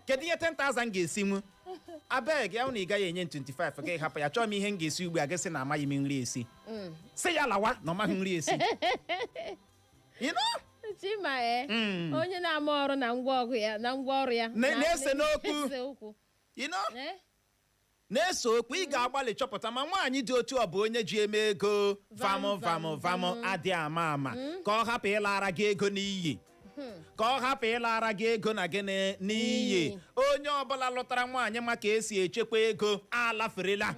kedu ihe 10,000 ga-esinwu abeg ya na ị gaghị enye m 25 gị hapụ ya chọọ m ihe m ga-esi ugbu a gị sị na amaghị m nri esi sị ya lawa na ọ maghị nri esi You know? chima e Mm. onye na-ama ọrụ na ngwa ọrụ ya na ngwa ọrụ ya Na- na-ese n'okwu. na-ese okwu You know? Eh? Na-ese okwu, ị ga-agbalị chọpụta ma nwaanyị dị otu ọ bụ onye ji eme ego vam vam vam adị ama ama ka ọ hapụ ịlara gị ego n'iyi ka ọ hapụ ịlara gị ego na gịnị n'iyi onye ọbụla lụtara nwaanyị ma ka esi echekwa ego alaferela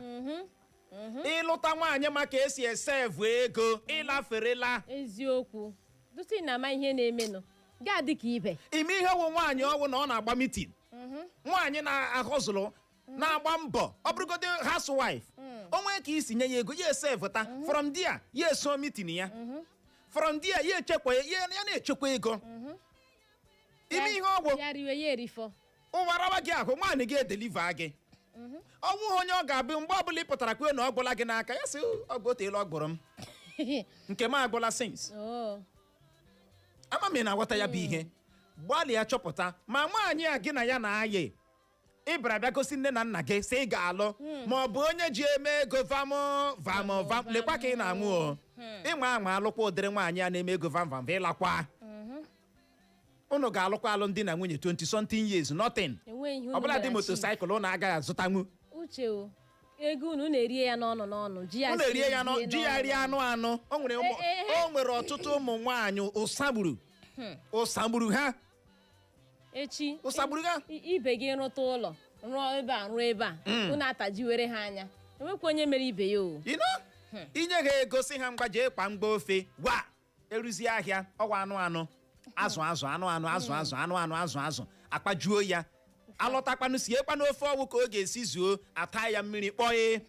ị lụta nwaanyị ma ka esi esevu ego ị laferela eziokwu dụtụ ị na-ama ihe na-emenụ ga-adị ka ibe ime ihe wụ nwaanyị ọ wụ na ọ na-agba mitin nwaanyị na-ahọzụlụ na-agba mbọ ọ bụrụgodị housewife o nwee ka i si nye ya ego ya esevụta from there ya eso mitin ya from there ya echekwa ya ya na-echekwa ego ime ihe ọ wụ ya riwe ya erifọ ụwa rawa gị ahụ nwaanyị gị edeliva gị ọ wụghị onye ọ ga-abụ mgbe ọbụla ị pụtara kwuo na ọ gwụla gị n'aka ya sị gị o teela ọ gwụrụ m nke m agwụla since Oh. ama m ị na-aghọta ya bụ ihe gbalịa chọpụta ma nwaanyị a gị na ya na-ayị ịbara bịa gosi nne na nna gị sị ị ga-alụ ma ọ bụ onye ji eme ego vam vam vam lekwa ka ị na-anwụ o ị nwaa anwa alụkwa ụdịrị nwaanyị a na-eme ego vam vam vam ị lakwa unu ga-alụkwa alụ di na nwunye 20 something years nothing enweghị ihe unu ọbụladị mere chi. motosaịkụl unu agaghị azụtanwu uche o ego unu unu erie ya n'ọnụ n'ọnụ ji ya unu erie ya nọ sie ji ya n'ọnụ. rie anụ anụ o nwere ụmụ- Eh, eh, eh. o nwere ọtụtụ ụmụ nwaanyị ụsa gburu ụsa gburu ha echi ụsa gburu ha i- ibe gị rụta ụlọ rụọ ebe a rụọ ebe a unu atajiwere ha anya enwekwa onye mere ibe ya o ino i nye ha ego sị ha ngwa jee kpaa ngwa ofe wa eruzie ahịa ọwa anụ anụ azụ azụ anụ anụ azụ azụ anụ anụ azụ azụ akpajuo ya alọtakwanụ siekwanụ ofe ọ wụ ka ọ ga-esi zuo ata ya mmiri kpọọ ya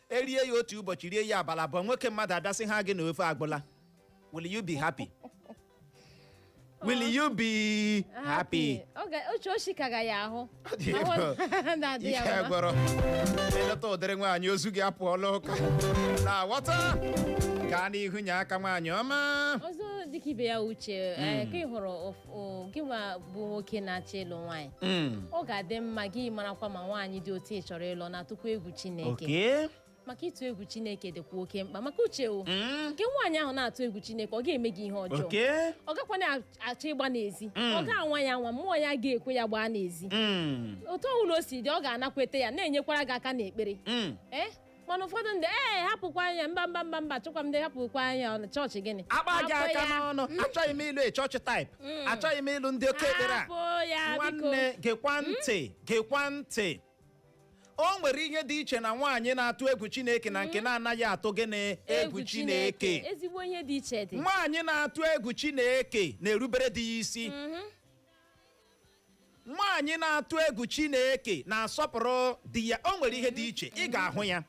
erie ya otu ụbọchị rie ya abalị abụọ nwoke mmadụ abịa sị ha gị na ofe agwụla will you be happy will you be happy Ọ ga- oche oshi ka ga ya ahụ Ọ dị Ahụ egwu. na-adị ihe ya mma gwọrọ eleta ụdịrị nwaanyị ozu gị apụọla ụka na-aghọta gaa n'ihu nye aka nwaanyị ọma ọzọ dịka ibe ya uche eh, ka ị hụrụ of- o- gị nwa bụ nwoke na-achọ ịlụ nwaanyị Mm. ọ ga-adị mma gị marakwa ma nwaanyị dị otu ị chọrọ ịlụ na-atụkwa egwu chineke oke maka ịtụ egwu chineke dịkwa oke mkpa maka uche o Mm. nke nwaanyị ahụ na-atụ egwu chineke ọ ga-eme gị ihe ọjọọ oke ọ gakwa na-achọ ịgba n'ezi Mm. ọ ga-anwa ya nwa mmụọ ya ga-ekwe ya gbaa n'ezi Mm. otu ọbụla o si dị ọ ga-anakweta ya na-enyekwara gị aka n'ekpere Mm. ee mana ụfọdụ ndị ee hapụkwa anya mba mba mba mba chụkwa m ndị hapụkwa anya ọ na chọọchị gịnị akpa gị Hapụ aka ya. n'ọnụ achọghị m ịlụ church type achọghị m ịlụ ndị oke ekpere a hapụ ya biko nwanne gekwa ntị gekwa ntị o nwere ihe dị iche na nwaanyị na-atụ egwu chineke na nke na-anaghị atụ gịnị egwu chineke ezigbo ihe dị iche dị nwaanyị na-atụ egwu chineke na-erubere di ya isi nwaanyị na-atụ egwu chineke na-asọpụrụ di ya o nwere ihe dị iche ị ga-ahụ ya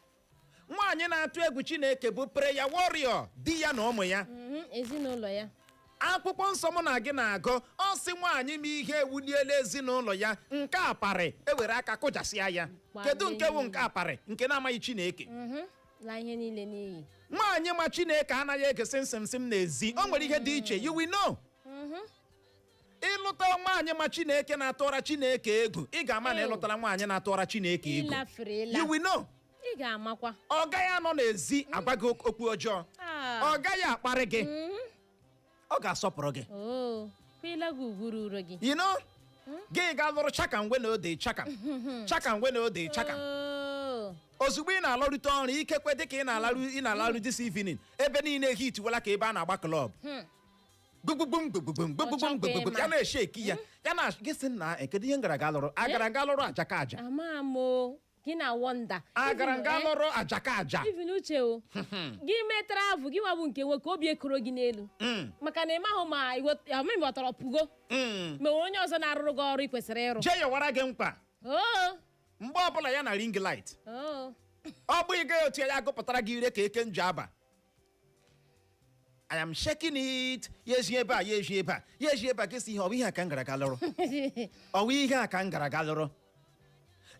nwaanyị na-atụ egwu chineke bụ prayer warrior di ya na ụmụ ya Mhm, ezinụlọ ya akwụkwọ nsọ mụ na gị na-agụ ọ sị nwaanyị ma ihe ewuliela ezinụlọ ya nke aparị ewere aka kụjasịa ya Gbaa kedu nke wụ mmiri. nke aparị nke na-amaghị chineke Mhm, laa ihe niile n'iyi nwaanyị ma chineke anaghị ege sịmsịmsịm n'ezi o nwere ihe dị iche you will know ị lụta nwaanyị ma chineke na-atụra chineke egwu ị ga-ama na Ew. ị lụtara nwaanyị na-atụra chineke egwu ịlafere ịla you will know ị ga-amakwa ọ gaghị anọ n'ezi agwa gị ok- okwu ọjọọ Ah. ọ gaghị akparị gị ọ ga-asọpụrụ gị oo kwela gị ugwu ruru gị you know gị ga lụrụ chaka ngwe na ode chaka chaka ngwe na ode chaka Oo. ozugbo ị na-alọrute ọrụ ikekwe dịka ị na-alaru ị na-alaru this evening ebe niile heat wela ka ebe a na-agba club gbugbum gbugbum gbugbum gbugbum ya na-eshake ya ya na gị sị na eh, kedu ihe m gara ga lụrụ agara m ga lụrụ ajakaja ama m o gị na-wonder agara m ga lụrụ ajakaja even uche o gị mee travel gị nwabụ nke nwoke obi ekoro gị n'elu Mm, maka na ị mahụ ma ọmịmị ọtọrọ pụgo mm. ma onye ọzọ na-arụrụ gị ọrụ ị kwesịrị ịrụ jee yọwara gị mkpa oo mgbe ọbụla ya na ring light oo ọ bụghị gị otu ya agụpụtara gị ire ka eke Njaba I am shaking it ya eji ebe a ya eji ebe a ya eji ebe a gesi ihe ọ bụ ihe a ka m gara ga lụrụ ọ bụ ihe a ka m gara ga lụrụ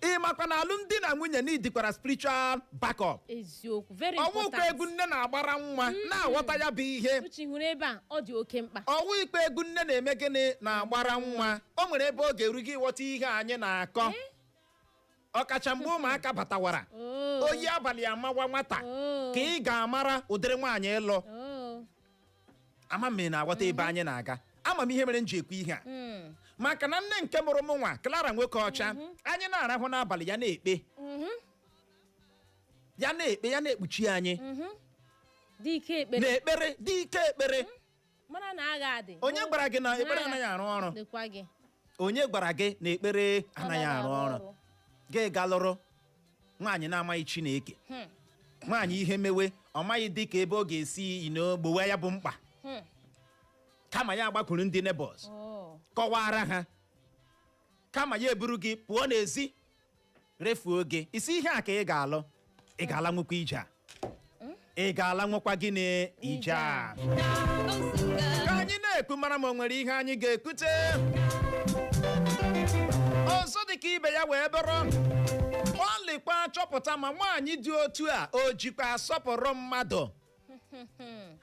ị makwa na alụmdi na nwunye needikwara spiritual backup eziokwu very ọ wụ ikpe important egwu nne na-agbara nwa na-aghọta ya bụ ihe uche hụrụ ebe a ọ dị oke mkpa ọ wụ ikpe egwu nne na-eme gịnị na-agbara nwa o nwere ebe ọ ga-eru gị ị ghọta ihe anyị na-akọ ọkacha mgbe ụmụaka batawara Oh. oyi abalị amawa nwata Oh. ka ị ga-amara ụdịrị nwaanyị ị lụ Oh. ama m ị na-aghọta ebe anyị na-aga ama m ihe mere m ji ekwu ihe a Mm. maka na nne nke mụrụ m nwa Clara Nwokeocha anyị na-arahụ n'abalị ya na-ekpe Mhm. ya na-ekpe ya na-ekpuchi anyị Mhm. Dị ike ekpere. na-ekpere dị ike ekpere mara na agha adị onye gwara gị na ekpere anaghị arụ ọrụ dịkwa gị onye gwara gị na ekpere anaghị arụ ọrụ gị gaa lụrụ nwaanyị na-amaghị chineke Hmm. nwaanyị ihe mewe ọ maghị dị ka ebe ọ ga-esi you know gbowe ya bụ mkpa Hmm. kama ya agbakwuru ndị neighbors Oh. kọwara ha kama ya eburu gị pụọ n'ezi refuo gị ị sị ihe a ka ị ga-alụ ị ga-alanwukwa ije a ị ga-alanwukwa gịnị ije a ka anyị na-ekwu mara ma o nwere ihe anyị ga-ekwute ọzọ dị ka ibe ya wee bụrụ gbalịkwa chọpụta ma nwaanyị dị otu a o jikwa asọpụrụ mmadụ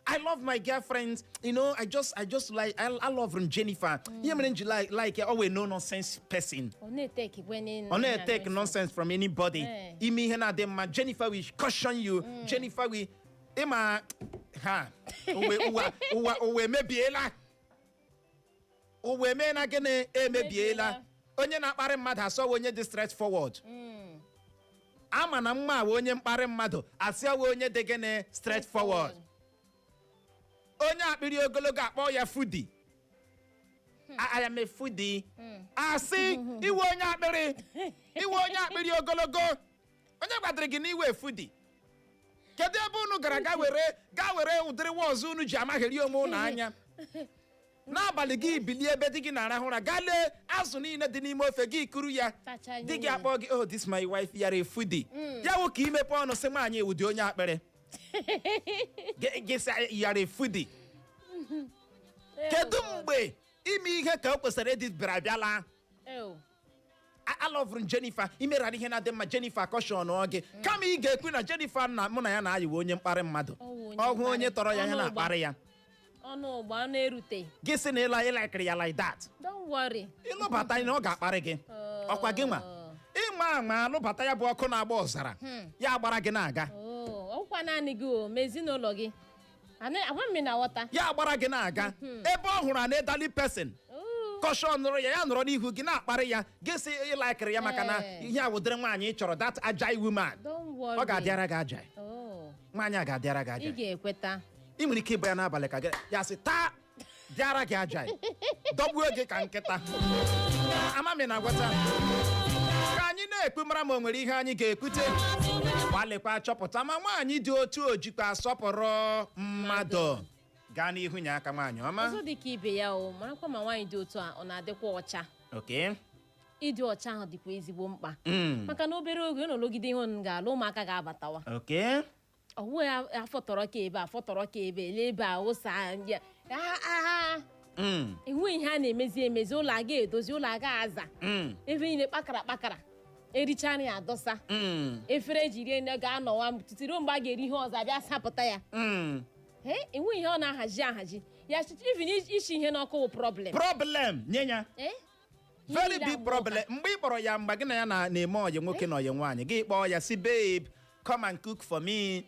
I love my girlfriend. You know, I just, I just like, I, I love her, Jennifer. Ihe mere I like ya, ọ wụ no nonsense person. Ọ naghị eteki nonsense from anybody. Eh. I mee ihe na-adịghị mma. Jennifer will caution you. Jennifer will, ịma, ha, ụwa emebiela. ụwa emena gịnị emebiela onye na-akparị mmadụ asị ọ wụ onye dị straightforward ama na nwa a wụ onye mkparị mmadụ asị ọ wụ onye dị gịnị straightforward onye akpịrị ogologo akpọ ya foodie A- I am a foodie. asị ị wụ onye akpịrị ị wụ onye akpịrị ogologo onye gwadịrị gị na ị wụ a foodie kedu ebe unu gara ga were ga were ụdịrị words unu ji amagheri onwe unu anya n'abalị gị bilie ebe di gị na-arahụ ụra gaa lee azụ niile dị n'ime ofe gị kuru ya Tachaa ya di gị niile. akpọ gị oh this my wife you are a foodie ya wụ ka ị mepee ọnụ sị nwaanyị ị wụdị onye akpịrị Gị- gị sị you are a foodie kedu mgbe ime ihe ka o kwesịrị ịdị bịara bịala Ew. A- alọvụrụ m Jennifer imerara ihe na-adịghị mma Jennifer akọshọnụọ gị kama ị ga-ekwu na Jennifer na mụ na ya na-ayị wụ onye mkparị mmadụ Ọ wụ onye ọ hụ onye mkparị. tọrọ ya Ọnụ ya ụgba. na-akparị ya ọnụ ụgba ọnụ erute gị sị na ịla ịlaikiri ya like that don't worry ị lụbata ya na ọ ga-akparị gị Oh. ọkwa gị nwa ịma ama alụbata ya bụ ọkụ na-agba ọzara ya agbara gị na-aga Oh, ọkwa naanị gị o ma ezinụlọ gị Ana- agwa m na ghọta ya agbara gị na-aga ebe ọ hụrụ an elderly person Ooh, kọshọnụrụ ya ya nọrọ n'ihu gị na-akparị ya gị sị ịlaikịrị ya maka na Ee. ihe a wụ ụdịrị nwaanyị ị chọrọ that agile woman don't worry. ọ ga-adịara gị agile Oh, nwaanyị a ga-adịara gị agile ị ga-ekweta ị nwere ike ịbịa n'abalị ka gị ya sị taa dịara gị agile ya dọgbuo gị ka nkịta amami na agwata ka anyị na-ekwu mara ma o nwere ihe anyị ga-ekwute gbalịkwa chọpụta ma nwaanyị dị otu o jikwa asọpụrụ mmadụ gaa n'ihu nye aka nwaanyị ọma ọzọ dị ka ibe ya o marakwa ma nwaanyị dị otu a ọ na-adịkwa ọcha okay ịdị ọcha ahụ dịkwa ezigbo mkpa Mm. maka na obere oge unu lụgide ihe unu ga-alụ ụmụaka ga-abatawa okay ọ wụ ya afọtọrọ ka ebe afọtọrọ ka ebe ele ebe a ụsa ndị a- a- a- Mm, enweghị ihe a na-emezi emezi ụlọ a ga-edozi ụlọ a ga-aza mm, ebe niile kpakara kpakara ericha nri adọsa mm, efere e ji rie nri ga-anọwa ụtụtụ ruo mgbe a ga-eri ihe ọzọ a bịa sapụta ya mm. Ee, enweghị ihe ọ na-ahazi ahazi ya chịchị even isi ihe n'ọkụ wụ problem problem nye ya Ee, very big problem mgbe ị kpọrọ ya mgbe gị na ya na- na-eme ọyị nwoke na ọyị nwaanyị gị kpọọ ya sị babe come and cook for me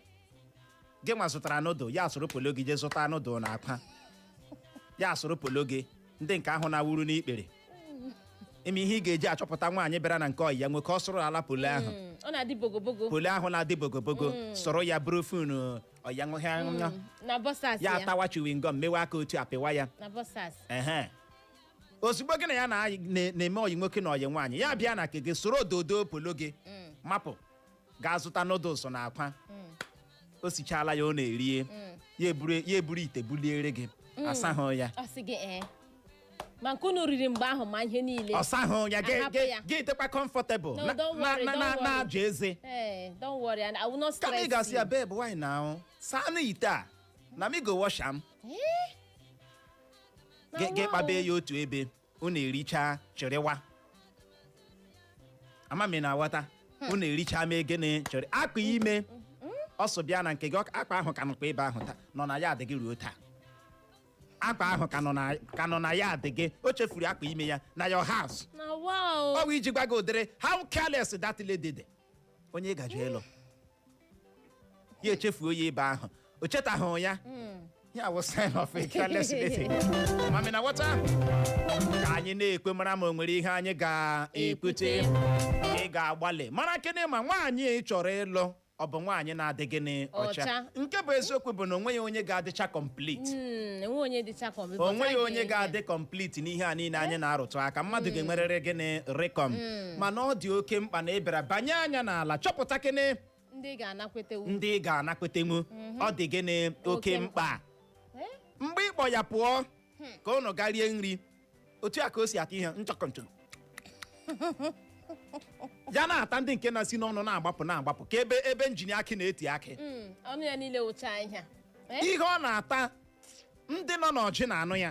gị nwa zụtara noodle ya soro polo gị jee zụta noodle na akwa ya soro polo gị ndị nke ahụ na-awuru n'ikpere ị ma ihe ị ga-eji achọpụta nwaanyị bịara na nke ọyị ya nwoke ọ sụrụ ala polo ahụ Mm, ọ na-adị bogobogo polo ahụ na-adị bogobogo soro ya buru phone ọyị ya nwoke na boxers ya ya atawa chewing gum mewe aka otu a pịwa ya na boxers ehe ozugbo gị na ya na- na- na-eme ọyị nwoke na ọyị nwaanyị ya bịa na nke gị soro dodo polo gị mapụ gaa zụta noodles na akwa o sichala ya unu erie ya eburu ya eburu ite buliere gị asahụ ya ọ sị gị ee ma nke unu riri mgbe ahụ ma ihe niile ọ sahụ ya gị- Ahapụ gị ya. gị dịkwa comfortable No, na- don't na- worry, na- don't na- worry. na-aja eze ee don't worry and I will not kama ị stress ga-asị ya you. babe why now saanụ ite a na me go wash am Ee, Gị- gị kpabe ya otu ebe unu ericha chịrịwa ama m ị na-aghọta unu ericha mee gịnị chịrị akpa ime ọsọ bịa na nke gị ọ- akpa ahụ ka nọkwa ebe ahụ taa nọ na yard gị ruo taa akpa ahụ ka nọ na- ka nọ na yard gị o chefuru akpa ime ya na your house na wow ọ bụ iji gwa gị ụdịrị how careless that lady dị onye ị gaje ịlụ ya echefuo ya ebe ahụ o chetaghị ya ya wụ sign of a careless lady ama m ị na-aghọta ka anyị na-ekwu mara ma o nwere ihe anyị ga-ekwute ị ga-agbalị mara kene ma nwaanyị ị chọrọ ịlụ ọ bụ nwaanyị na-adị gịnị ọcha Ọcha. nke bụ eziokwu bụ na o nweghị onye ga-adịcha complete Mm, enwe onye dịcha ka ọbịbọ o nweghị onye ga-adị complete n'ihe a niile anyị na-arụtụ aka mmadụ ga-enwerịrị gịnị comma mana ọ dị oke mkpa na ị bịara banye anya n'ala chọpụta kene ndị ga-anakwetenwu ndị ị ga-anakwetenwu ọ dị gịnị oke Oke mkpa Eh? mgbe ị kpọ ya pụọ ka unu gaa rie nri otu a ka o si ata ihe nchọkọnchọ ya na-ata ndị nke na-esi n'ọnụ na-agbapụ na-agbapụ ka ebe ebe njini akị na-eti akị Mm, ọnụ ya niile wụcha ihe Eh? ihe ọ na-ata ndị nọ n'Orji na-anụ ya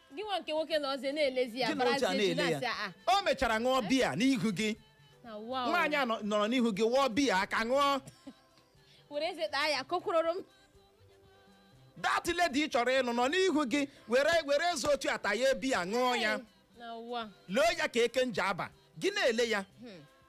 gị nwa nke nwoke na ọzọ na-elezi ya Gị na oche a barazie ji na-ele na-asị ya a o mechara ṅụọ biya n'ihu gị na wow nwaanyị a nọ- nọrọ n'ihu gị wụọ biya aka ṅụọ were eze taa ya kokwuroro m that lady ị chọrọ ịlụ nọ n'ihu gị were were eze otu a taa ya biya ṅụọ ya na ụwa loo ya ka Eke Njaba gị na-ele ya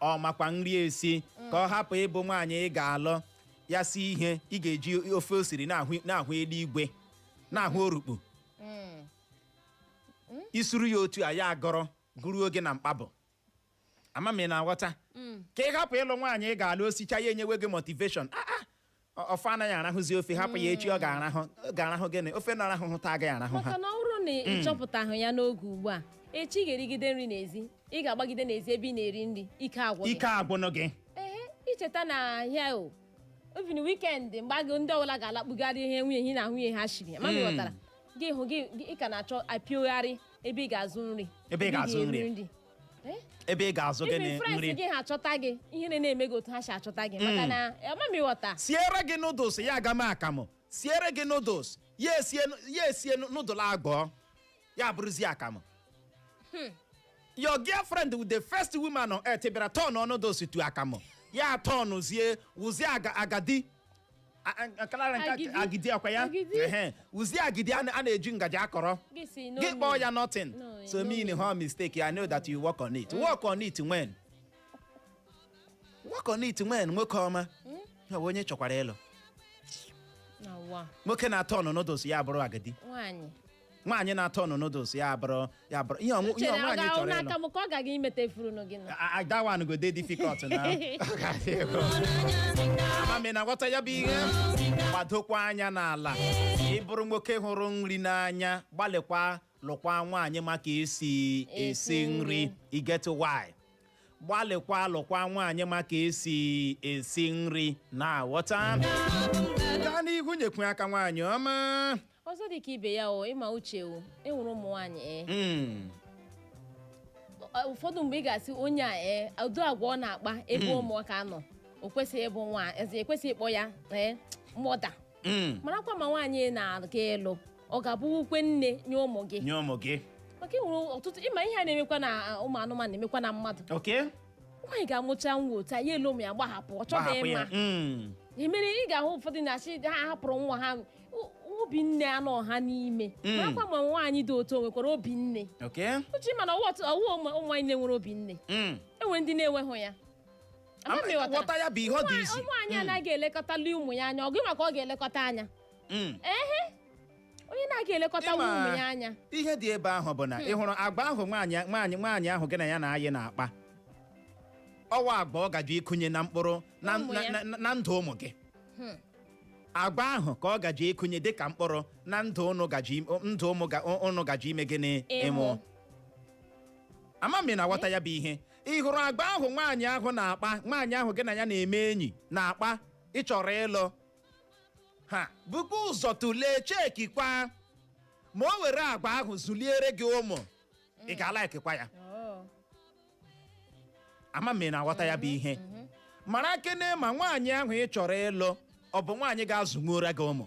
ọ makwa nri esi ka ọ hapụ ịbụ nwaanyị ị ga-alụ ya sie ihe ị ga-eji ofe o siri na-ahụ na-ahụ eluigwe na-ahụ urukpu i suru ya otu a ya agọrọ gụrụ oge na mkpabụ ama m ị na-aghọta ka ị hapụ ịlụ nwaanyị ị ga-alụ o sichaa ya enyewe gị motivation Ah, ah, Ọ- ofe anaghị arahụzi ofe hapụ ya echi ọ ga-arahụ ọ ga-arahụ gịnị ofe na-arahụhụ taa agaghị arahụ ha maka na ọ bụrụ na ị chọpụtahụ ya n'oge ugbu a echi ị ga-erigide nri n'ezi ị ga-agbagide n'ezi ebe ị na-eri nri ike agwụ gị ike agwụnụ gị ehe i cheta na ahịa o even weekend mgbe agụ ndị ọbụla ga-alakpugharị ihe nwunye hi na nwunye ha shiri ma ghọtara gị hụ gị gị- ị ka na-achọ apịogharị ebe ị ga-azụ nri Ebe ị ga-azụ ga-eri nri. Eh? ebe ị ga-azụ gịnị Even friends nri gị ha achọta gị ihe na na-eme gị otu ha si achọta gị maka na ama m ị ghọta siere gị noodles ya aghọọ akamụ siere gị noodles ya esie ya esie noodles ahụ ya bụrụzie akamụ your girlfriend with the first woman on earth bịara turn noodles to akamụ ya turnụzie wụzie aga- agadi A- a- kalara nke Agidi. agidi ọ kwa ya Agidi. Ehe. wụzie agidi a na- a na-eji ngaji akọrọ Gị si no gị kpọọ mean. ya nothing No, so no mean mean. her mistake i know that you work on it work on it when work on it when nwoke ọma Ya bụ onye chọkwara ịlụ Na ụwa. nwoke na-aturn noodles ya bụrụ agidi Nwaanyị. nwaanyị na-aturn noodles ya bụrụ ya bụrụ ihe ọṅụ- ihe chere ọ nwaanyị ga-ahụ chọrọ n'aka ịlụ m ka ọ gaghị imete furunu gị na I- I- that one go dey difficult na Ọ ga-adị egwu. Ama m ị na-aghọta ya bụ ihe gbadokwa anya n'ala ị bụrụ nwoke hụrụ nri n'anya gbalịkwa lụkwa nwaanyị ma ka e si esi Esi nri nri. e get why gbalịkwa lụkwa nwaanyị ma ka e si esi nri na-aghọta gaa n'ihu nyekwu aka nwaanyị ọma ọzọ dị ka ibe ya o ị ma Uche o e nwere ụmụ nwaanyị e Mm, Ọ- ụfọdụ mgbe ị ga-asị onye a e ụdị agwa ọ na-akpa ebe ụmụaka nọ o kwesịghị ịbụ nwaanyị e kwesịghị ịkpọ ya ee mother Mm. marakwa ma nwaanyị ị na-aga ịlụ ọ ga-abụkwa nne nye ụmụ gị nye ụmụ gị maka e nwere ọtụtụ ịma ihe a na-emekwa na a, ụmụ anụmanụ na-emekwa na mmadụ okay nwaanyị ga-amụcha nwa otu a ya elu ụmụ ya gbahapụ ọ chọghị gbahapụ ya ịma Mm. ya mere ị ga-ahụ ụfọdụ na-asị ha hapụrụ nwa ha o- obi nne anọ ha n'ime Mm. marakwa ma nwaanyị dị otu o nwekwara obi nne okay Uche mana ọ wụ ọtụ- ọ wụ ụmụ ụmụ nwaanyị na-enwere obi nne Mm. e nwere ndị na-enweghị ya Ama m ị ghọtara. ghọta ya bụ ihe ọ dị easy nwaanyị anaghị elekọtali ụmụ ya anya ọ gịnwa ka ọ ga-elekọta anya Mm. ehe onye na-anaghị elekọta Ịma- ụmụ ya anya ihe dị ebe ahụ bụ na ị hụrụ agwa ahụ nwaanyị nwaanyị nwaanyị ahụ gị na ya na-ayị na-akpa ọ wụ agwa ọ gaje ịkụnye na mkpụrụ na, Ụmụ na, ya. na, na ndụ ụmụ gị agwa ahụ ka ọ gaje ịkụnye dịka mkpụrụ na ndụ ụnụ gaje im- ndụ ụmụ ga- ụnụ gaje ime gịnị Ịmụ. ịmụ ama m na-aghọta ya bụ ihe ị hụrụ agwa ahụ nwaanyị ahụ na-akpa nwaanyị ahụ gị na ya na-eme enyi na-akpa ị chọrọ ịlụ ha bukwa ụzọ tụlee chekikwa ma o were agwa ahụ zụliere gị ụmụ ị ga-alaikikwa ya ama m ị na-aghọta ya bụ ihe mara kene ma nwaanyị ahụ ị chọrọ ịlụ ọ bụ nwaanyị ga-azụnwuora gị ụmụ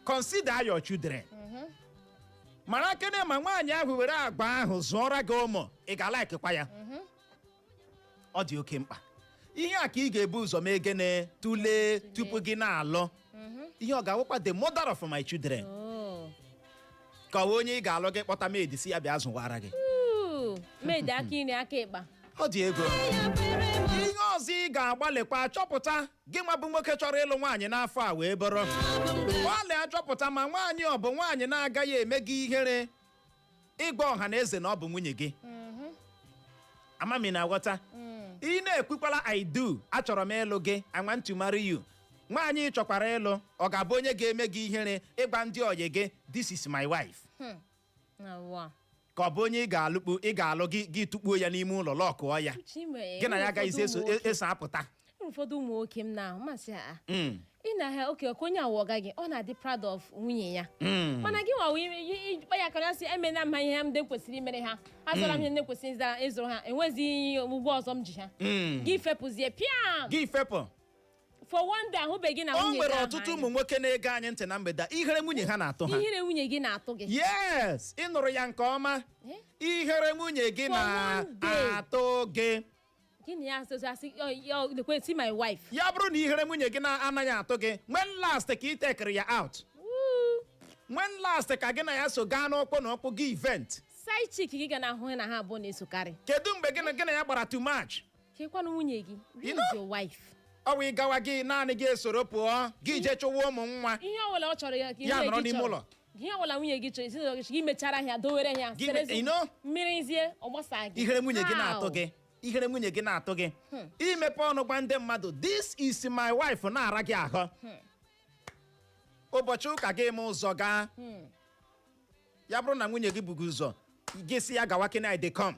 consider your children mara kene ma nwaanyị ahụ were agwa ahụ zụọra gị ụmụ ị ga-alaikikwa ya ọ dị oke mkpa ihe a ka ị ga-ebu ụzọ mee gịnị tụlee tupu gị na-alụ ihe ọ ga-awụkwa the mother of my children ka ọ bụ onye ị ga-alụ gị kpọta maid sị ya bịa zụwara gị ụmụ maid aka iri aka ịkpa ọ dị ego ihe ọzọ ị ga-agbalịkwa chọpụta gị nwa bụ nwoke chọrọ ịlụ nwaanyị n'afọ a wee bụrụ gbalịa chọpụta ma nwaanyị ọ bụ nwaanyị na-agaghị eme gị ihere ịgwa ọha na eze na ọ bụ nwunye gị ama m ị na-aghọta ị na-ekwukwala I do achọrọ m ịlụ gị I want to marry you nwaanyị ị chọkwara ịlụ ọ ga-abụ onye ga-eme gị ihere ịgwa ndị ọyị gị this is my wife ka ọ bụ onye ị ga-alụ gị tụkpuo ya n'ime ụlọ lọkụọ ya gị na ya agaghịzi eso apụta enwere ụfọdụ ụmụ nwoke m na-ahụ masị ha Mm. ị na ha oke ọkụ onye awụ ọga gị ọ na-adị proud of nwunye ya Mm. mana gị nwawo ịkpa ya kara sị emena m ha ihe m kwesịrị imere ha azụra m ihe ndị kwesịrị ịzara ịzụrụ ha enweghịzi ihe ụgwọ ọzọ m ji ha Mm. gị fepụzie pịam gị fepụ for one day ahụbeghị na nwunye gị ahụ anya. o nwere ọtụtụ ụmụ nwoke na-ege anyị ntị na mgbede a, ihere nwunye ha na-atụ ha ihere nwunye gị na-atụ gị yes ị nụrụ ya nke ọma ihere nwunye gị na-atụ gị gị na ya asụsụ asị "Yo, yo, lekwe see my wife ya bụrụ na ihere nwunye gị na-anaghị atụ gị when last ka ị tekere ya out when last ka gị na ya so gaa n'ụkwụ na ụkwụ gị event side chick gị ga na-ahụ na ha abụọ na-esokarị kedu mgbe gị na ya gbara to match chekwana nwunye gị is your wife ọ bụ ịgawa gị naanị gị esoro pụọ gị je chụwa ụmụ nwa ihe ọbụla ọ chọrọ ya ka ya nọrọ n'ime ụlọ. ihe ọbụla nwunye gị chọrọ ezinụlọ gị chọrọ gị mechara ya dowere ya mmiri zie ọ gbasa gị ihere nwunye gị na-atụ gị ihere nwunye gị na-atụ gị imepe ọnụ gwa ndị mmadụ this is my wife na-ara gị ahụ ụbọchị ụka gị ma ụzọ gaa ya bụrụ na nwunye gị bughị ụzọ gị sị ya gawa ke na I dey come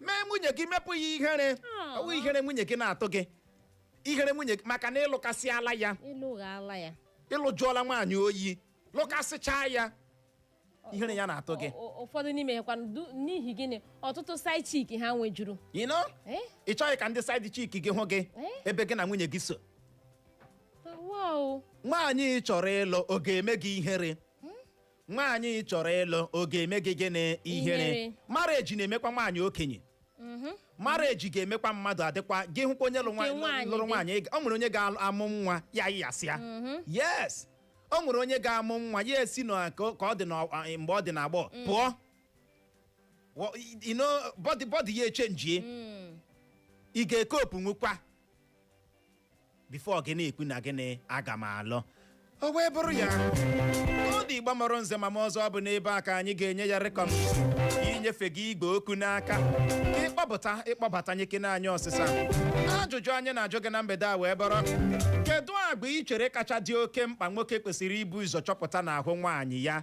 mee nwunye gị mepụ ya ihere ọ wụ ihere nwunye gị na-atụ gị ihere nwunye gị maka na ị lụkasịala ya ị lụghala ya ị lụjọọla nwaanyị oyi lụkasịchaa ya ihere ya na-atụ gị Ọ- ọ- ụfọdụ n'ime ha kwanụ n'ihi gịnị ọtụtụ side chick ha nwejuru you know ị chọghị ka ndị side chick gị hụ gị ebe gị na nwunye gị so wow nwaanyị ị chọrọ ịlụ ọ ga-eme gị ihere nwaanyị ị chọrọ ịlụ ọ ga-eme gị gịnị ihere Ihere. marriage na-emekwa nwaanyị okenye marriage ga-emekwa mmadụ adịkwa gị hụkwa onye lụ nwa- Nke nwaanyị lụrụ di. nwaanyị ị ga- o nwere onye ga-amụ nwa ya yasịa yes o nwere onye ga-amụ nwa ya esi na ka ka ọ dị na mgbe ọ dị na agbọghọ pụọ Wọ- you know, body body ya echenjie ị ga-ekopu nwukwa before gị na-ekwu na gịnị aga m alụ o wee bụrụ ya ọ dị Igbo mụrụ nze ma mụọ ọzọ ọ bụ n'ebe a ka anyị ga-enye ya rekọm inyefe gị igwe okwu n'aka ka ị kpọpụta ị kpọbata nyekene anyị ọsịsa ajụjụ anyị na-ajụ gị na mgbede a wee bụrụ kedu agwa ị chere kacha dị oke mkpa nwoke kwesịrị ibu ụzọ chọpụta n'ahụ nwaanyị ya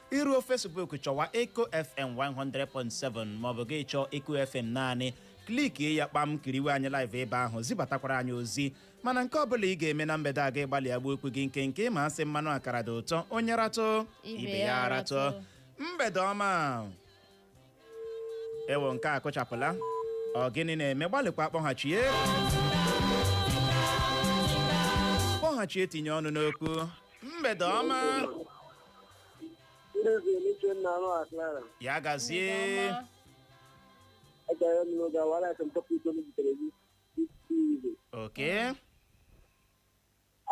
i ruo Facebook chọwa Eco FM 100.7 maọbụ gị chọọ Eco FM naanị klikie ya kpam kiriwe anyị live ebe ahụ zibatakwara anyị ozi mana nke ọbụla ị ga-eme na mgbede a gị gbalịa gbuo okwu gị nkenke ma a sị mmanụ akara dị ụtọ onye ratụ ibe ya ratụ. mgbede ọma ewo nke a kụchapụla ọ gịnị na-eme gbalịkwa kpọghachie kpọghachie tinye ọnụ n'okwu mgbede ọma Ndị eze n'ike nna anụ a Clara. ya gazie Agara m n'oge awara aka mpọpụ ito m zitere gị. Isi ibe. okay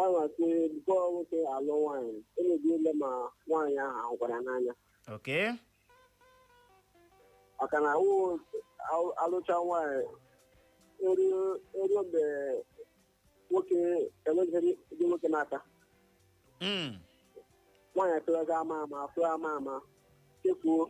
anwasị bụkọ nwoke alụ nwaanyị emebi ile ma nwaanyị ahụ ahụkwara n'anya okay maka na awụ awụ- alụcha nwaanyị eruo eruo mgbe nwoke enweghịrị ndị nwoke n'aka Mm. nwaanyị atụrụga ama ama afụrụ ama ama chefuo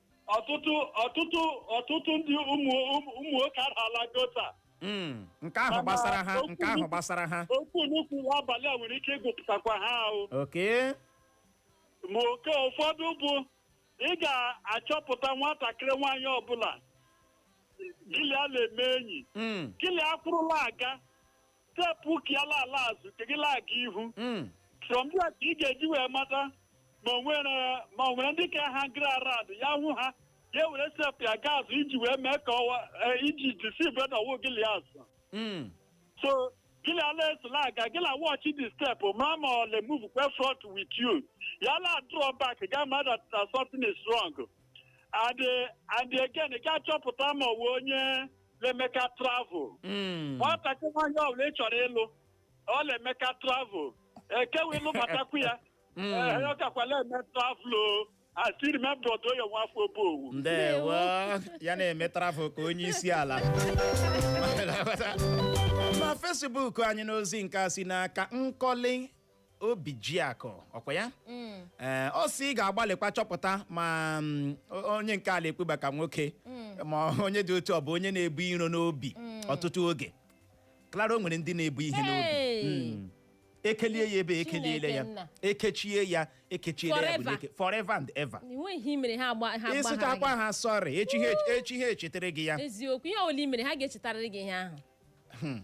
ọtụtụ ọtụtụ ọtụtụ ndị ụmụ ụmụ- ụmụ nwoke arala gota Mm, nke ahụ gbasara ha nke ahụ gbasara ha okwu nnukwu abalị a nwere ike ịgụpụtakwa ha ahụ okay ma oke ụfọdụ bụ ị ga-achọpụta nwatakịrị nwaanyị ọbụla gịlị a na-eme enyi Mm, gịlị a kwụrụ la-aga step ke ya la-ala azụ ke gị la-aga ihu Mm. from there ka ị ga-eji wee mata ma o nwere ma o nwere ndị ka ha gara around ya hụ ha ya were step ya gaa azụ iji wee mee ka ọwa eh, iji deceive na ọ wụ gịlị azụ Mm. so gịlị a la-eso la-aga gị la-watch the step mara ma ọ la-move kwa front with you ya la draw back ga-ama that that something is wrong and eh, and again ị ga-achọpụta ma ọ wụ onye na-emeka travel Mm. nwatakịrị nwaanyị ọbụla ị chọrọ ịlụ ọ na-emeka travel ekewe ịlụ matakwu ya Mm. Ee, ọ kakwa la-eme travel o asiri my brother ya nwa afọ Obowu ndewo ya na-eme travel ka onye isi ala na Facebook anyị n'ozi nke a si n'aka Nkọli Obijiakụ ọkwa ya ee ọ sị ị ga-agbalịkwa chọpụta ma mm, o- onye nke a na-ekpeba ka nwoke ma onye dị otu ọ bụ onye na-ebu iro n'obi ọtụtụ oge Clara o nwere ndị na-ebu ihe n'obi Hey! Mm. ekelie ya ebe ekeliele Chineke ya nna. ekechie ya ekechiele ya bụ Forever. n'eke- forever and ever enweghị ihe i mere ha agba ha agbaghara ị sịchakwa gị. ha sorry echi ha echi- echi ha echetere gị ya eziokwu ihe ọbụla i mere ha ga-echetarịrị gị ihe ahụ Hmm.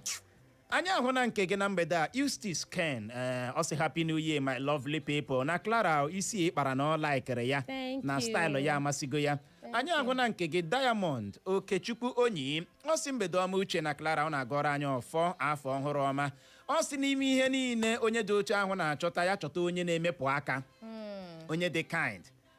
anyị ahụna nke gị na mgbede a Eustace Ken ee ọ sị happy new year my lovely people na Clara isi ị kpara na ọ laikere ya Thank na you. style ya amasịgo ya anyị ahụna nke gị Diamond Okechukwu Onyi ọ sị mgbede ọma Uche na Clara ọ na-agọrọ anyị ọfọ afọ ọhụrụ ọma ọ sị n'ime ihe niile onye dị otu ahụ na-achọta ya chọta onye na-emepụ aka onye dị kind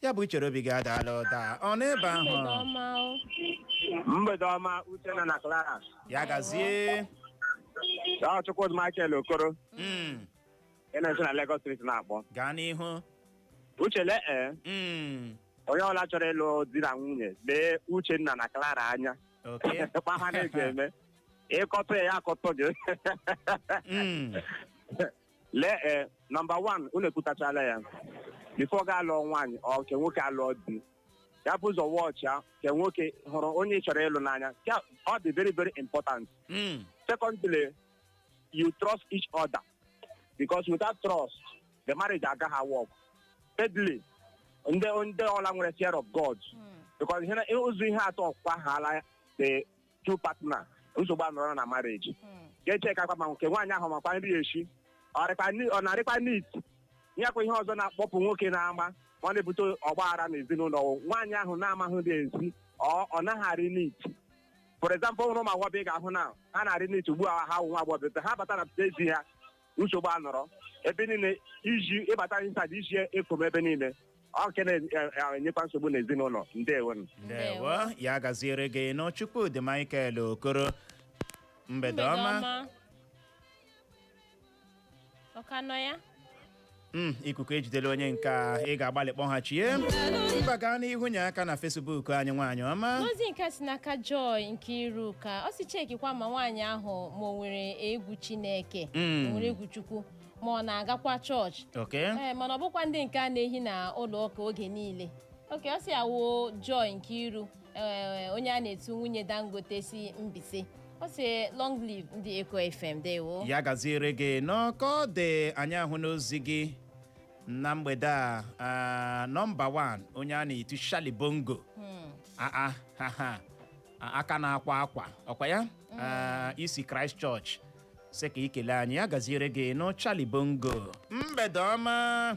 ya bụ ichere obi gị adaala ụda ọ nọ ebe ahụ mgbede ọma o mgbede ọma Uchenna na Clara ya gazie ọ Chukwudi Michael Okoro Mm, ị na-esi na Lagos Street na-akpọ gaa n'ihu Uche lee ee Mm, onye ọla chọrọ ịlụ di na nwunye lee Uchenna na Clara anya okay. kpa ha na-eji eme ị kọtụ ya ya akọtụ gị Mm, lee ee number one unu ekwutachala ya before ga alụọ nwaanyị ọ ke nwoke alụọ di ya bu ụzọ watch ya ke nwoke hụrụ onye ị chọrọ ịlụ n'anya Ka ọ dị very very important Mm. secondly you trust each other because without trust the marriage agaghị work thirdly ndị ndị ọla nwere fear of God because ihe na- ụzọ ihe atọ ọ kwahala the two partner nsogbu anọrọ na marriage Hmm. ga-echekakwa ma ke nwaanyị ahụ makwa nri eshi ọ rịkwa ni- ọ na-arịkwa neat nyekwa ihe ọzọ na-akpọpụ nwoke n'ama ma ọ na-ebute ọgba aghara n'ezinụlọ nwaanyị ahụ na-amaghị nri esi ọ ọ naghị arị neat for example ụmụ agbọghọ ị ga-ahụ na ha na-arị neat ugbu a ha wụ nwa agbọghọ ha bata na ezi ha nsogbu anọrọ ebe niile iji ị bata inside iji efom ebe niile ọ nke na-enyekwa nsogbu n'ezinụlọ ndewo ndewo ya gaziere gị nọọ Chukwudi Michael Okoro mgbede ọma ọ ka nọ ya Mm, ikuku ejidela onye nke a ị ga-agbalị kpọghachie mba gaa n'ihu nye aka na Facebook anyị nwaanyị ọma ozi nke si n'aka Joy Nkeiruka ọ sị chekikwa ma nwaanyị ahụ ma o nwere egwu chineke Mm. o nwere egwu chukwu ma ọ na-agakwa chọọchị okay ee mana ọ bụkwa ndị nke a na-ehi na ụlọ ụka oge niile okay ọ si awụ Joy Nkeiru Ee, onye a na-etu nwunye dangote si mbaise ọ sị long live ndị eko fm dewo ya gaziere gị nnọọ ka ọ dị anyị ahụna ozi gị na mgbede a ah, nọmba 1 onye a na-etu Charlie Bongo Ah, ah, ha, ha. Ah, aka na-akwa akwa ọ kwa ya Ah, i si Christ Church sị ka i kelee anyị ya gaziere gị nnọọ Charlie Bongo mgbede ọma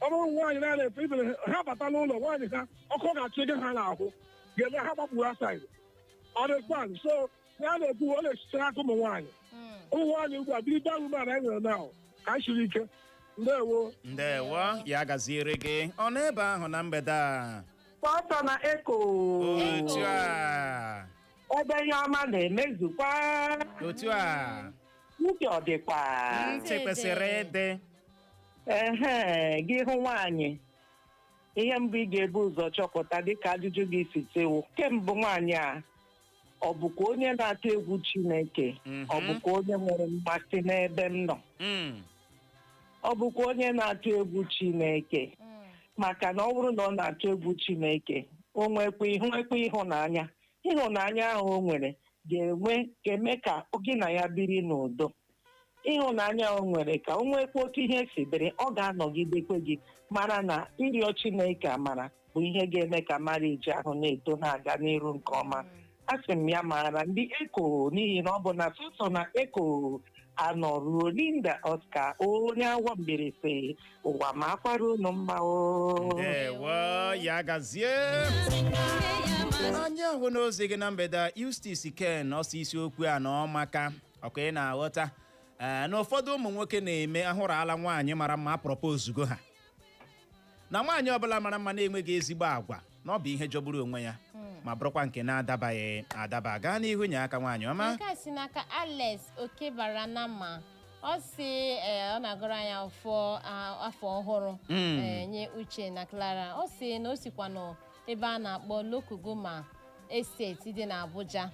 ọ bụrụ nwaanyị na na-efe ibere ha bata n'ụlọ nwaanyị ha ọkụ ga-achụ ego ha n'ahụ ga-eme ha gbapụrụ outside ọ dịkwanụ so ya na-ekwu ọ na-esitere aka ụmụ nwaanyị Mm. ụmụ nwaanyị ugbu a biri gbanwe mara anyị nwere n'ahụ ka anyị siri ike ndewo ndewo ya gaziere gị ọ nọ ebe ahụ na mgbede a Pọtọ na eko otu a ebe ihe ọma na-emezukwa otu a uche ọ dịkwa ntị kwesịrị ịdị ehe gị hụ nwaanyị ihe mbụ ị ga-ebu ụzọ chọpụta dịka ajụjụ gị si tewo ke mbụ nwaanyị a ọ bụkwa onye na-atụ egwu chineke Mhm. ọ bụkwa onye nwere mmasị n'ebe m nọ Mm. ọ bụkwa onye na-atụ egwu chineke Mm. maka na ọ bụrụ na ọ na-atụ egwu chineke o nwekwa ịhụnanya ịhụnanya ahụ o nwere ga-enwe ga-eme ka gị na ya biri n'udo ịhụnanya o nwere ka o nwekwa otu ihe si dịrị ọ ga-anọgidekwa gị mara na ịrịọ chineke amara bụ ihe ga-eme ka marriage ahụ na-eto na-aga n'iru nke ọma asị m ya maara ndị eko n'ihi na ọ bụ na sọsọ na eko a nọ ruo linda oscar onye awo mbieri sị ụwa makwaara unu mma o ndewo ya gazie anyị ahụna ozi gị na mgbede a Eustace Ken ọ sị isiokwu a na ọ maka ọ kwa ị na-aghọta ee na ụfọdụ ụmụ nwoke na-eme a hụrụla nwaanyị mara mma a propose ozugbo ha na nwaanyị ọbụla mara mma na-enweghị ezigbo agwa na ọ bụ ihe jọgburu onwe ya ma bụrụkwa nke na-adabaghị adaba gaa n'ihu nye aka nwaanyị ọma nke a si n'aka alex okebaranama ọ sị ee, ọ na-agọrọ anyị afọ a- afọ ọhụrụ Mm. ee, nye uche na clara ọ sị na o sikwa n'ebe a na-akpọ lokogoma estate dị n'abuja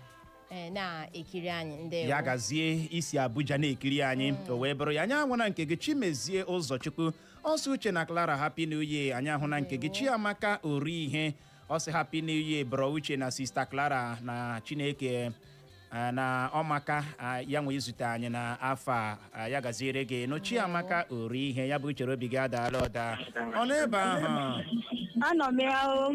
ee, na-ekiri anyị ndewo ya gazie i si abuja na-ekiri anyị o wee bụrụ ya anyị ahụna nke gị chimezie ụzọchukwu ọ sị uche na clara happy new year anyị ahụna nke gị chiamaka orihe ọ sị happy new year bro uche na sista clara na chineke ah, na ọ maka ah, ya nwe izute anyị na afọ a ah, ya gaziere gị nnọọ chiamaka orihe ya bụ uche obi gị adaala ọda ọ nọ ebe ahụ Anọ m ya o.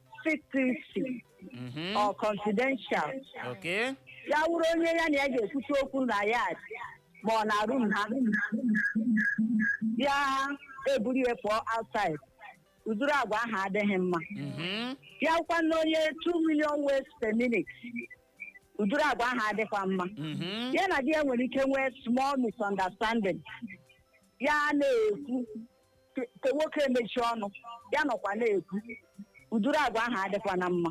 secrecy Mhm. or confidential Okay. ya wụrụ onye ya na ya ga-ekwute okwu na yard ma ọ na room ha ya eburu ya pụọ outside ụdụrụ agwa ahụ adịghị mma Mhm. ya wụkwa na onye 2 million words per minute ụdụrụ agwa ahụ adịkwa mma Mhm. ya na di ya nwere ike nwee small misunderstanding ya na-ekwu ke- ke nwoke emechi ọnụ ya nọkwa na-ekwu ụdụrụ agwa ahụ adịkwa na mma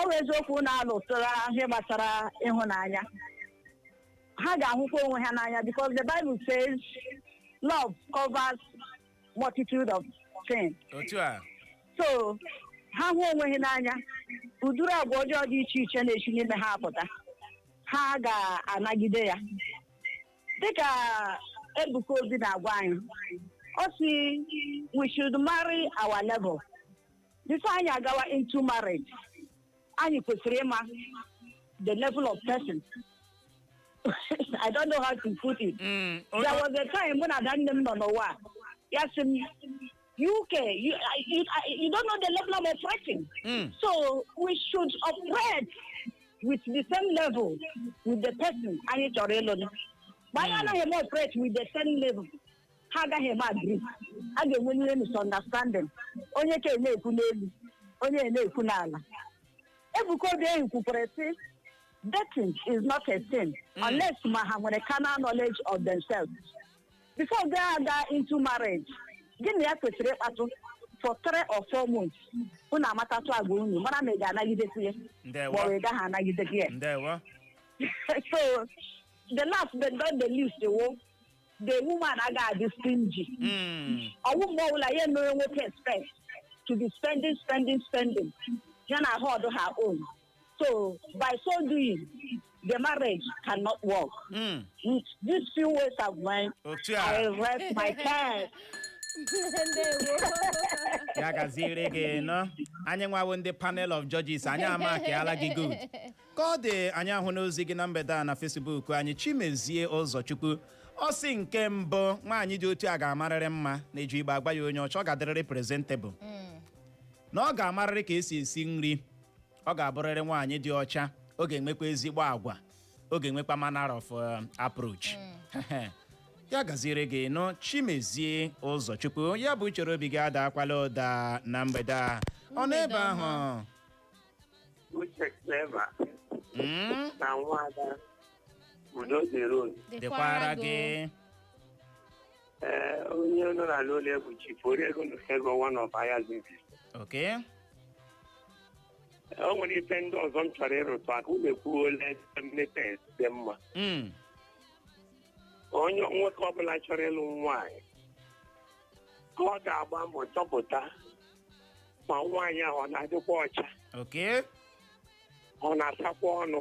ọ bụ eziokwu na alụtara ihe gbasara ịhụnanya ha ga-ahụkwa onwe ha n'anya because the Bible says love covers multitude of sin otu a so ha hụ onwe ha n'anya ụdụrụ agwa ọjọọ dị iche iche na-esi n'ime ha apụta ha ga-anagide ya dịka Ebuka Obi na-agwa anyị ọ sị we should marry our level before anyị agawa into marriage anyị kwesịrị ịma the level of person I don't know how to put it Mm, o- there o- was a time mụ na ada nne m nọ n'ụwa ya sị m UK, you, I- you, I- you don't know the level I'm operating. Mm. So we should operate with the same level with the person anyị chọrọ ịlụ na. Ma anyị anaghị eme operate with the same level. Ha agaghị eme agree. A ga-enwe ihe misunderstanding. Onye ke a na-ekwu n'elu, onye na-ekwu n'ala. Ebuka Obi ehi kwukwara sị dating is not a sin unless ma ha nwere carnal knowledge of themselves. before gị aga into marriage gị na ya kwesịrị ịkpatụ for three or four months unu amatatụ agwa unu mara ma ị ga-anagidekwu ya ndewo maọbụ ị gaghị anagidekwu ya ndewo so the last but not the least wụ the woman agaghị adị stingy Mm, ọwụ mgbe ọbụla ya emere nwoke expect to be spending spending spending ya na-ahold her own So by so doing, the marriage cannot work. Mm. With these few words of mine, otu I a rest my case. ndewo ya gaziere gị nụ anyị nwa wụ ndị panel of judges anyị amakiala gị good ka ọ dị anyị ahụna ozi gị na mgbede a na Facebook anyị chimezie ụzọchukwu ọ sị nke mbụ nwaanyị dị otu a ga-amarịrị mma na-eji Igbo agwa ya onye ọcha ọ ga-adịrịrị presentable na ọ ga-amarịrị ka esi esi nri ọ ga-abụrịrị nwaanyị dị ọcha ọ ga-enwekwa ezigbo agwa ọ ga-enwekwa manner of um, approach ya gaziere gị nụ chimezie ụzọchukwu ya bụ chere obi gị adaakwala ụda na mgbede a ọ nọ ebe ahụ Uche Clever Mm, na nwaada Udo dịrị unu. dịkwara gị Ee, onye nọ na ala ole bụ chifu onye ego na ego one of ahịa zizi Okay. o nwere ife ndị ọzọ m chọrọ ịrụtụ aka unu ekwuole mmepe dị mma Mm. onye nwoke ọbụla chọrọ ịlụ nwaanyị ka ọ ga-agba mbọ chọpụta ma nwaanyị ahụ ọ na-adịkwa ọcha Okay. ọ na-asakwa ọnụ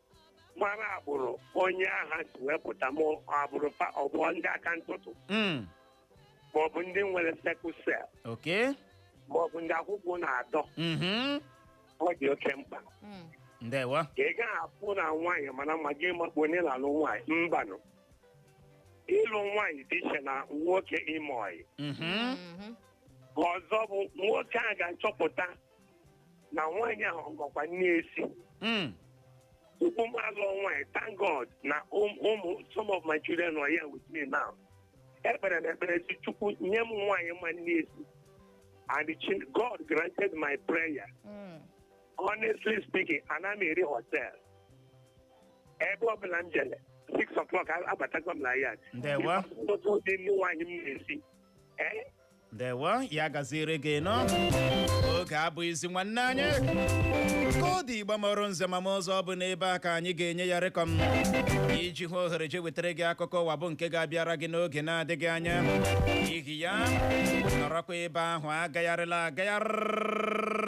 mara agbụrụ onye ahụ si wee pụta ma agbụrụ fa ọ bụ ndị aka ntụtụ Mm. ma ọ bụ ndị nwere sickle cell Okay. ma ọ bụ ndị akwụkwụ na-adọ Mhm. ọ dị oke mkpa Mm. Ndewo. ka ị gaghị afụ na nwaanyị mara mma gị makpu onye na-alụ nwaanyị mbanụ ịlụ nwaanyị dị iche na nwoke ime ọyị Mhm. Mhm. ọzọ bụ nwoke a ga-achọpụta na nwaanyị ahụ makwa nni esi Mm. tupu m alụọ nwaanyị thank god na ụm- ụmụ some of my children are here with me now ekpere m ekpere sị Chukwu nye m nwaanyị ma nni esi and the chin- god granted my prayer Mm. honestly speaking ana m eri hotel ebe ọbụla m jere six o'clock abatago m na yard Ndewo. nni nwaanyị m na-esi ee ndewo ya gaziere gị nnọọ oge abụghịzi nwanne anyị ka ọ dị Igbo mụrụ nze ma ọzọ ọ bụ n'ebe a ka anyị ga-enye ya rịkọm iji hụ ohere je wetara gị akụkọ ụwa bụ nke ga-abịara gị n'oge na-adịghị anya n'ihi ya nọrọkwa ebe ahụ agagharịla agagharị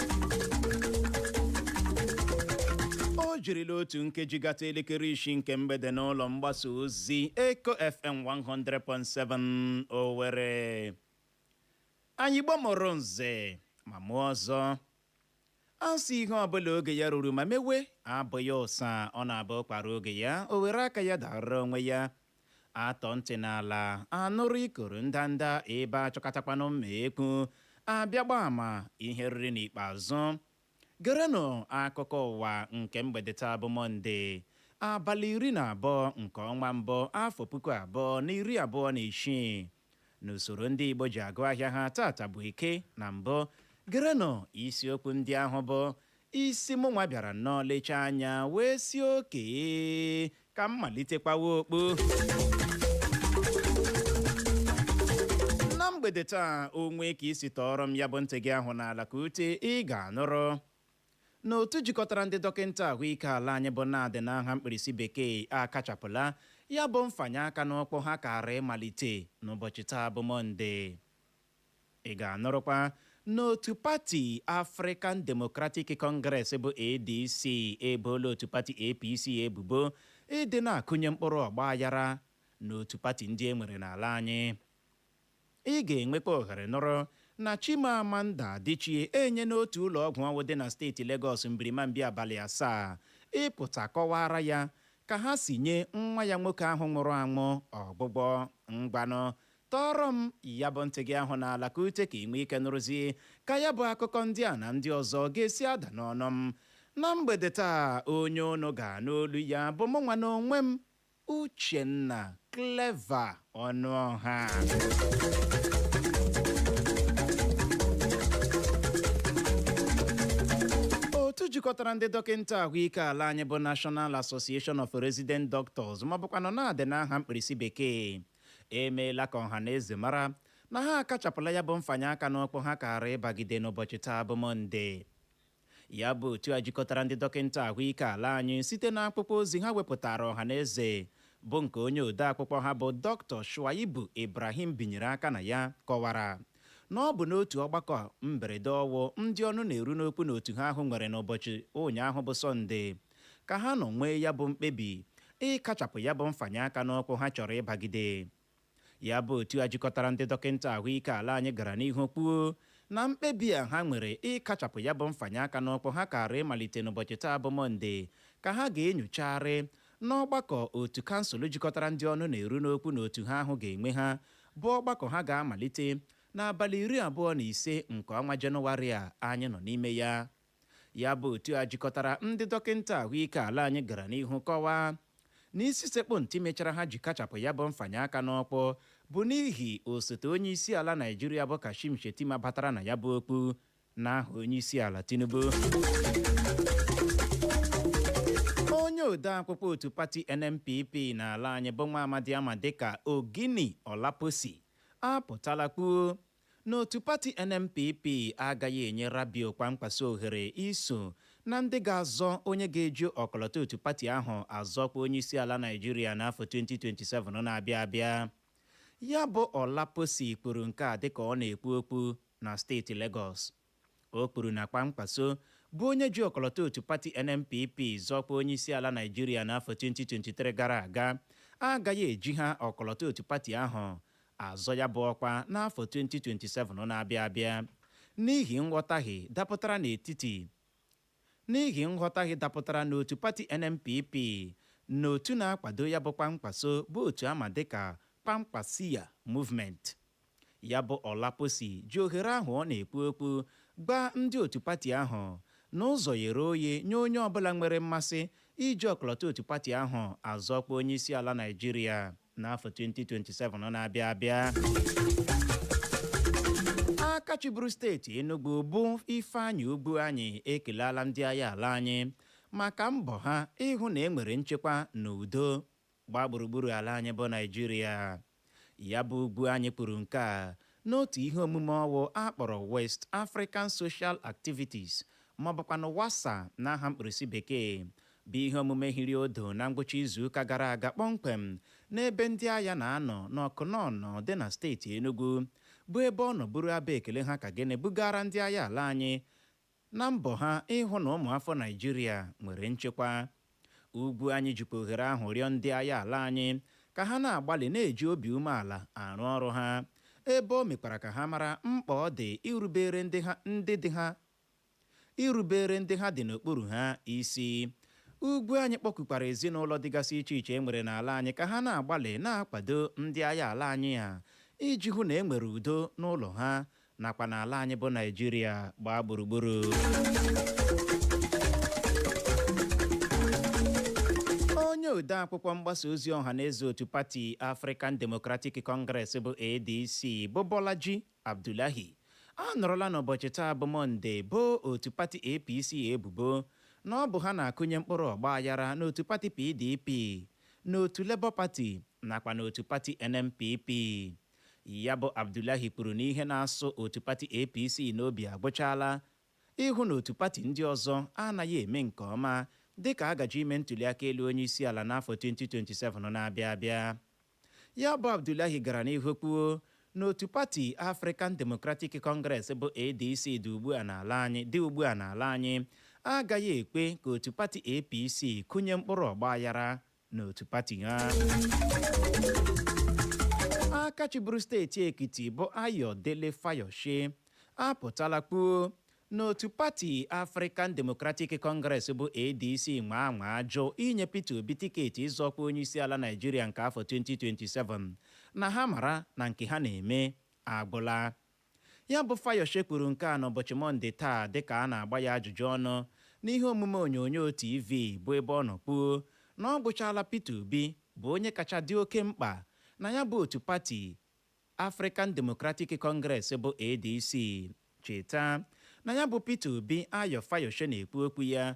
o jirila otu nkeji gata elekere isii nke mgbede n'ụlọ mgbasa ozi Eko FM 100.7 Owerri anyị Igbo mụrụ nze ma mụọ ọzọ a sị ihe ọbụla oge ya ruru ma mewe abụghị ụsa ọ na-abụ ụkwa ruo oge ya o were aka ya dara onwe ya A tọọ ntị n'ala, a nụrụ ikoro ndanda, ebe a chọkatakwanụ mma ekwu, a bịa gbaa ama ihe e riri n'ikpeazụ. Gerenụ akụkọ ụwa nke mgbede taa bụ Mọnde, abalị iri na abụọ nke ọnwa mbụ, afọ puku abụọ na iri abụọ na isii. n'usoro ndị Igbo ji agụ ahịa ha tata bụ Eke na mbụ gerenụ isiokwu ndị ahụ bụ isi mụ nwa bịara nnọọ lechaa anya wee sị okay ka m malitekwawa okwu na mgbede taa o nwee ka i si tọọrọ m ya bụ ntị gị ahụ n'ala ka ute ị ga-anụrụ na otu jikọtara ndị dọkịnta ahụike ala anyị bụ NARD n'aha mkpirisi bekee akachapụla ya bụ mfanye aka n'ọkpụ ha kaara ịmalite n'ụbọchị taa bụ Mọnde. Ị ga-anụrụkwa n'otu pati African Democratic Congress bụ ADC eboola otu pati APC ebubo ịdị na-akụnye mkpụrụ ọgbaghara n'otu pati ndị e nwere n'ala anyị. Ị ga-enwekwa ohere nụrụ na Chimamanda Adichie enyena otu ụlọọgwụ ọwụ dị na steeti Legọs mbirimambi abalị asaa ịpụta kọwaara ya ka ha si nye nwa ya nwoke ahụ nwụrụ anwụ ọgwụgwọ. Ngwanụ, tọọrọ m ya bụ ntị gị ahụ n'ala ka ute ka i nwee ike nụrụzie ka ya bụ akụkọ ndị a na ndị ọzọ ga-esi ada n'ọnụ m. Na mgbede taa, onye ụnụ ga-anụ olu ya bụ mụnwa n'onwe m, Uchenna Clever Ọnụọha otu jikọtara ndị dọkịnta ahụike ala anyị bụ National Association of Resident Doctors ma bụkwanụ NARD n'aha mkpirisi bekee emeela ka ọha na eze mara na ha akachapụla ya bụ mfanye aka n'ọkpụ ha kaara ịbagide n'ụbọchị taa bụ Mọnde Ya bụ otu a jikọtara ndị dọkịnta ahụike ala anyị site na akpụkpọ ozi ha wepụtara ọha na eze bụ nke onye ode akpụkpọ ha bụ Dr. Shuaibu Ibrahim binyere aka na ya kọwara na ọ bụ n'otu ọgbakọ mberede ọwụ ndị ọnụ na-eru n'okwu na otu ha ahụ nwere n'ụbọchị ụnyaahụ bụ Sọnde ka ha nọ nwee ya bụ mkpebi ịkachapụ ya bụ mfanye aka n'ọkpụ ha chọrọ ịbagide. Ya bụ otu a jikọtara ndị dọkịnta ahụike ala anyị gara n'ihu kwuo na mkpebi a ha nwere ịkachapụ ya bụ mfanye aka n'ọkpụ ha kaara ịmalite n'ụbọchị taa bụ Mọnde ka ha ga-enyochagharị n'ọgbakọ otu kansụl jikọtara ndị ọnụ na-eru n'okwu na otu ha ahụ ga-enwe ha bụ ọgbakọ ha ga-amalite n'abalị iri abụọ na ise nke ọnwa Jenụwarị a anyị nọ n'ime ya. ya bụ otu a jikọtara ndị dọkịnta ahụike ala anyị gara n'ihu kọwaa na isi sekpụ ntị mechara ha ji kachapụ ya bụ mfanye aka n'ọkpụ bụ n'ihi osote onye isi ala naịjirịa bụ kashim shettima batara na ya bụ okpu n'aha onye isi ala tinubu onye ode akpụkpọ otu pati nnpp n'ala anyị bụ nwa amadi a ma dịka oginni olaposi apụtala kwuo N'otu pati NNPP agaghị enye Rabiu Kwankwaso ohere iso na ndị ga-azọ onye ga-eji ọkọlọtọ otu pati ahụ azọ ọkwa onyeisiala Naịjirịa n'afọ 2027 na-abịa abịa. Ya bụ Olaposi kwuru nke a dịka ọ na-ekwu okwu na steeti Legọs. O kwuru na Kwankwaso, bụ onye ji ọkọlọtọ otu pati NNPP zọọ ọkwa onyeisiala Naịjirịa n'afọ 2023 gara aga, agaghị ejiha ọkọlọtọ otu pati ahụ azọ ya bụ ọkwa n'afọ 2027 na-abịa abịa n'ihi nghọtahie dapụtara n'etiti n'ihi nghọtahie dapụtara n'otu pati NNPP na otu na-akwado ya bụ Kwankwaso bụ otu a ma dịka Kwankwasiya Movement. Ya bụ Olaposi ji ohere ahụ ọ na-ekwu okwu gwa ndị otu pati ahụ na ụzọ ghere oghe nye onye ọbụla nwere mmasị iji ọkọlọtọ otu pati ahụ azọ ọkwa onyeisiala Naịjirịa. n'afọ 2027 na-abịa abịa aka chịburu steeti Enugu bụ Ifeanyi Ugwuanyi ekelala ndị agha ala anyị maka mbọ ha ịhụ na e nwere nchekwa na udo gbaa gburugburu ala anyị bụ Naịjirịa ya bụ Ugwuanyi kwuru nke a N'otu ihe omume ọwụ a kpọrọ West African Social Activities ma ọ bụkwanụ WASA n'aha mkpirisi bekee, bụ ihe omume hiri odo na ngwụcha izuụka gara aga kpọmkwem n'ebe ndị agha na-anọ n'Ọkụnanọ dị na steeti Enugwu, bụ ebe ọ nọ buru abọ ekele ha ka gịnị bugaara ndị agha ala anyị Na mbọ ha ịhụ na ụmụafọ Naịjirịa nwere nchekwa, Ugwuanyi jikwa ohere ahụ rịọ ndị agha ala anyị ka ha na-agbalị na-eji obi umeala arụ ọrụ ha, ebe o mekwara ka ha mara mkpa ọ dị irubeere ndị ha dị n'okpuru ha isi. Ugwuanyi kpọkukwara ezinaụlọ dịgasị iche iche e nwere n'ala anyị ka ha na-agbalị na-akwado ndị agha ala anyị a iji hụ na e nwere udo n'ụlọ ha nakwa n'ala anyị bụ naijiria gbaa gburugburu onye ode akwụkwọ mgbasa ozi ọha na eze otu pati african democratic congress bụ adc bụ bolaji abdullahi anọrọla n'ụbọchị taa bụ mọnde boo otu pati apc ebubo na ọ bụ ha na-akụnye mkpụrụ ọgba aghara n'otu pati pdp n'otu labour pati nakwa n'otu pati nnpp Ya bụ Abdullahi kwuru na ihe na-asụ otu pati APC n'obi agwụchaala ịhụ na otu pati ndị ọzọ anaghị eme nke ọma dịka a gaje ime ntuliaka elu onyeisiala n'afọ 2027 na-abịa abịa. Ya bụ Abdullahi gara n'ihu kwuo na otu pati African Democratic Congress bụ ADC dị ugbu a n'ala anyị agaghị ekwe ka otu pati APC kụnye mkpụrụ ọgbaghara n'otu pati ha aka chịburu steeti ekiti bụ ayodele fayose apụtala kwuo na otu pati african democratic congress bụ adc nwaa anwa ajụ inye peter obi tiketi ịzọ ọkwa onyeisiala naijiria nke afọ 2027 na ha mara na nke ha na-eme agwụla Ya bụ Fayose kwuru nke a n'ụbọchị Mọnde taa dịka a na-agba ya ajụjụ ọnụ n'ihe omume onyonyo TV bụ ebe ọ nọ kwuo na ọ gwụchaala Peter Obi bụ onye kacha dị oke mkpa na ya bụ otu pati African Democratic Congress bụ ADC. Cheta na ya bụ Peter Obi Ayo Fayose na-ekwu okwu ya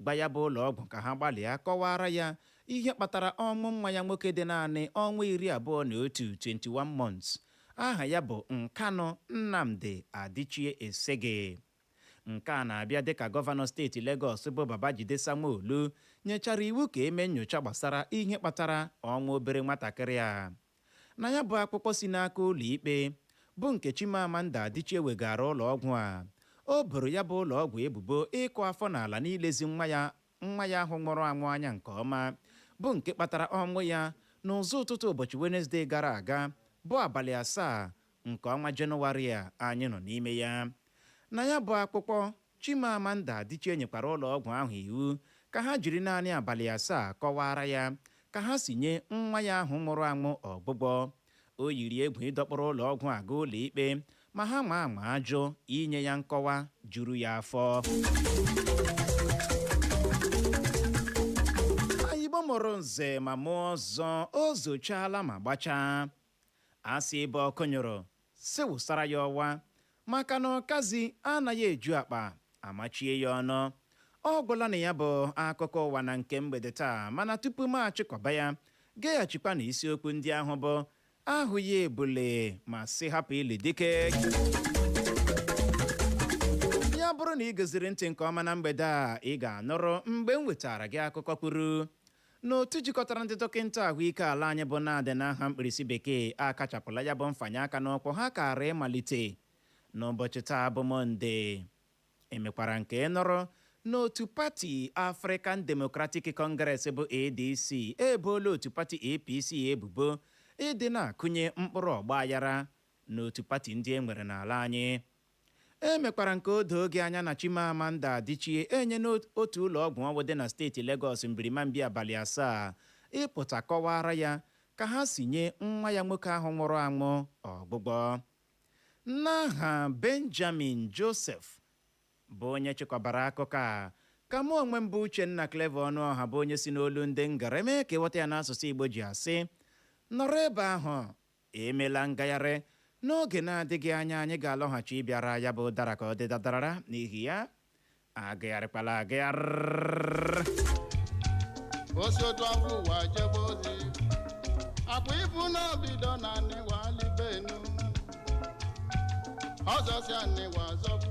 gwa ya bụ ụlọọgwụ ka ha gbalịa kọwaara ya ihe kpatara ọnwụ nwa ya nwoke dị naanị ọnwa iri abụọ na otu 21 months aha ya bụ Nkanụ Nnamdi Adichie Esege. Nke a na-abịa dịka gọvanọ steeti Legọs bụ Babajide Sanwo-Olu nyechara iwu ka e mee nyocha gbasara ihe kpatara ọnwụ obere nwatakịrị a. Na ya bụ akwụkwọ si n'aka ụlọikpe, bụ nke Chimamanda Adichie wegaara ụlọọgwụ a, o boro ya bụ ụlọọgwụ ebubo ịkụ afọ n'ala n'ilezi nwa ya nwa ya ahụ nwụrụ anwụ anya nke ọma, bụ nke kpatara ọnwụ ya n'ụzọ ụtụtụ ụbọchị Wenezde gara aga, bụ abalị asaa nke ọnwa Jenụwarị a anyị nọ n'ime ya. Na ya bụ akwụkwọ, Chimamanda Adichie nyekwara ụlọọgwụ ahụ iwu ka ha jiri naanị abalị asaa kọwaara ya ka ha si nye nwa ya ahụ nwụrụ anwụ ọgwụgwọ. O yiri egwu ịdọkpụrụ ụlọọgwụ a gaa ụlọikpe ma ha nwaa anwaa jụ inye ya nkọwa juru ya afọ. Igbo mụrụ nze ma mụọ ọzọ, o zochaala ma gbachaa. A sị ebe ọkụ nyụrụ, sị wụsara ya ọwa, maka na ọkazi anaghị eju akpa amachie ya ọnụ. Ọ gwụla na ya bụ akụkọ ụwa na nke mgbede taa mana tupu m achịkọba ya, geghachikwanụ isiokwu ndị ahụ bụ ahụghị ebule ma sị hapụ ili dike. Ya bụrụ na ị goziri ntị nke ọma na mgbede a, ị ga-anụrụ mgbe m wetaara gị akụkọ kwuru na otu jikọtara ndị dọkịnta ahụike ala anyị bụ NARD n'aha mkpirisi bekee akachapụla ya bụ mfanye aka n'ụkwụ ha kaara ịmalite n'ụbọchị taa bụ Mọnde. Emekwara m ka ị nụrụ na otu pati African Democratic Congress bụ ADC eboola otu pati APC ebubo ịdị na-akụnye mkpụrụ ọgbaghara n'otu pati ndị e nwere n'ala anyị. Emekwara m ka o doo gị anya na Chimamanda Adichie enyena otu ụlọọgwụ ọwụ dị na steeti Legọs mbirimambi abalị asaa ịpụta kọwaara ya ka ha si nye nwa ya nwoke ahụ nwụrụ anwụ ọgwụgwọ. N'aha Benjamin Joseph bụ onye chịkọbara akụkọ a, ka mụ onwe m bụ Uchenna Clever Ọnụọha bụ onye si n'olu ndị ngere mee ka ị ghọta ya n'asụsụ Igbo ji asị, nọrọ ebe ahụ Emela ngagharị. N'oge na-adịghị anya anyị ga-alọghachi ịbịara ya bụ dara ka ọ dị dadarara n'ihi ya agagharịkwala agagharị. O si otu afọ ụwa jebe ozi akwa ibu n'obido na anịwa alibenu ọzọ si anịwa zọpụ